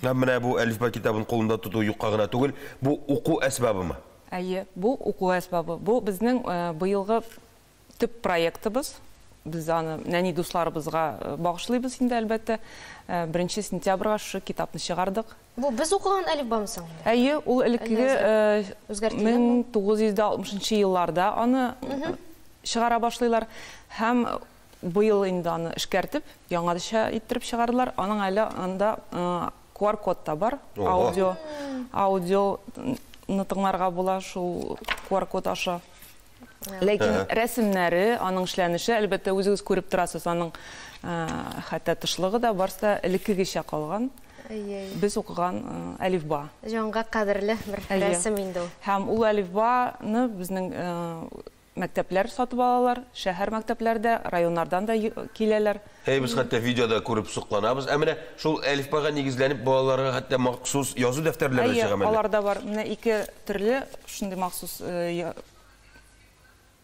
Һәм менә бу Әлифба китабын кулында тоту юкка гына түгел, бу уку әсбабымы? Әйе, бу уку әсбабы. Бу безнең быелгы төп проектыбыз. Без аны нәни дусларыбызга багышлыйбыз инде, әлбәттә. Беренче сентябрьгә шушы китапны чыгардык. Бу без укыган әлифбамы соң инде? Әйе, ул элеккеге 1960 нчы елларда аны чыгара башлыйлар. Һәм Быел инде аны эшкәртеп, яңача иттереп чыгардылар. Аның әле анда QR-код та бар. Аудио, аудио тыңларга була шул QR-код аша. Ләкин рәсемнәре, аның эшләнеше, әлбәттә, үзегез күреп торасыз, аның хәтта тышлыгы да, барысы да элеккегечә калган. Без укыган әлифба. Җанга кадерле бер рәсем инде ул. Һәм ул әлифбаны безнең Мәктәпләр сатып алалар, шәһәр мәктәпләре дә, районнардан да киләләр. Әй, без хәтта видеода күреп сокланабыз. Ә менә шул әлифбага нигезләнеп балаларга хәтта махсус язу дәфтәрләре дә чыга мәллә? Әйе, алар да бар. Менә ике төрле шундый махсус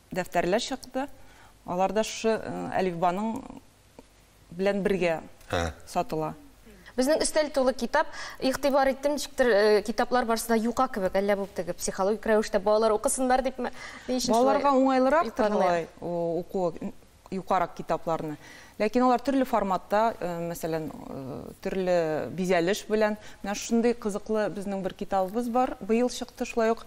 дәфтәрләр чыкты. Алар да шушы әлифбаның белән бергә сатыла. Безнең өстәл тулы китап. Игътибар иттем, ничектер, китаплар барысы да юка кебек, әллә бу теге психологик рәвештә балалар укысыннар дипме, ни өчен шулай? Балаларга уңайлырактыр болай укуы, юкарак китапларны. Ләкин алар төрле форматта, мәсәлән, төрле бизәлеш белән. Менә шушындый кызыклы безнең бер китабыбыз бар, быел чыкты, шулай ук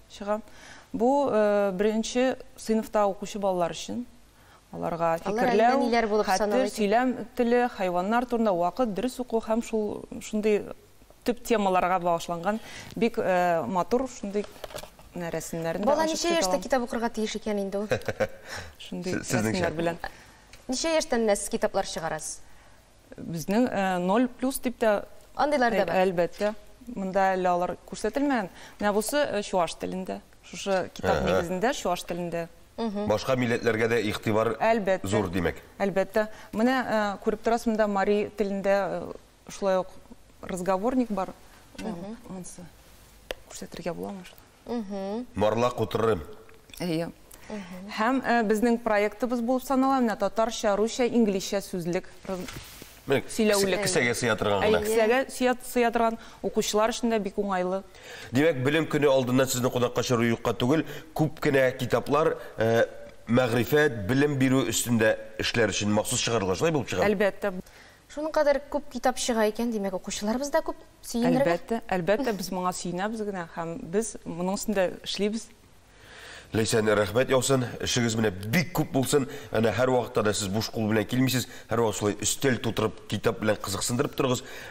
чыга. Бу беренче сыйныфта укучы балалар өчен. Аларга фикерләү, хәтер, сөйләм теле, хайваннар турында, вакыт, дөрес уку һәм шул шундый төп темаларга багышланган бик матур шундый рәсемнәрен дә ачып чыга. Бала ничә яшьтә китап укырга тиеш икән инде ул? Шундый рәсемнәр белән. Ничә яшьтән менә сез китаплар чыгарасыз? Безнең э, ноль плюс дип тә Андыйлар да бар. Әлбәттә. Монда әле алар күрсәтелмәгән. Менә бусы э, чуаш телендә. Шушы китап Әһә. нигезендә чуаш телендә. Башка милләтләргә дә игътибар Әлбәттә. зур, димәк. Әлбәттә. Менә э, күреп торасыз, монда мари телендә э, шулай ук разговорник бар. Монсы күрсәтергә буламы? марлак утырырым. Әйе. Һәм безнең проектыбыз булып санала менә татарча, русча, инглизчә сүзлек, сөйләүлек. Кесәгә сыя торган гына. Әйе, кесәгә сыя торган, укучылар өчен дә бик уңайлы. Димәк, Белем көне алдыннан сезне кунакка чыгару юкка түгел, күп кенә китаплар мәгърифәт, белем бирү өстендә эшләр өчен махсус чыгарылган, шулай булып чыга? Әлбәттә. Шуның кадәр күп китап чыга икән, димәк, укучыларыбыз да күп, сөенергә. Әлбәттә, әлбәттә, без моңа сөенәбез генә һәм без моның өстендә эшлибез. Ләйсән, рәхмәт яусын, эшегез менә бик күп булсын, әнә һәрвакытта да сез буш кул белән килмисез, һәрвакыт шулай өстәл тутырып, китап белән кызыксындырып торыгыз.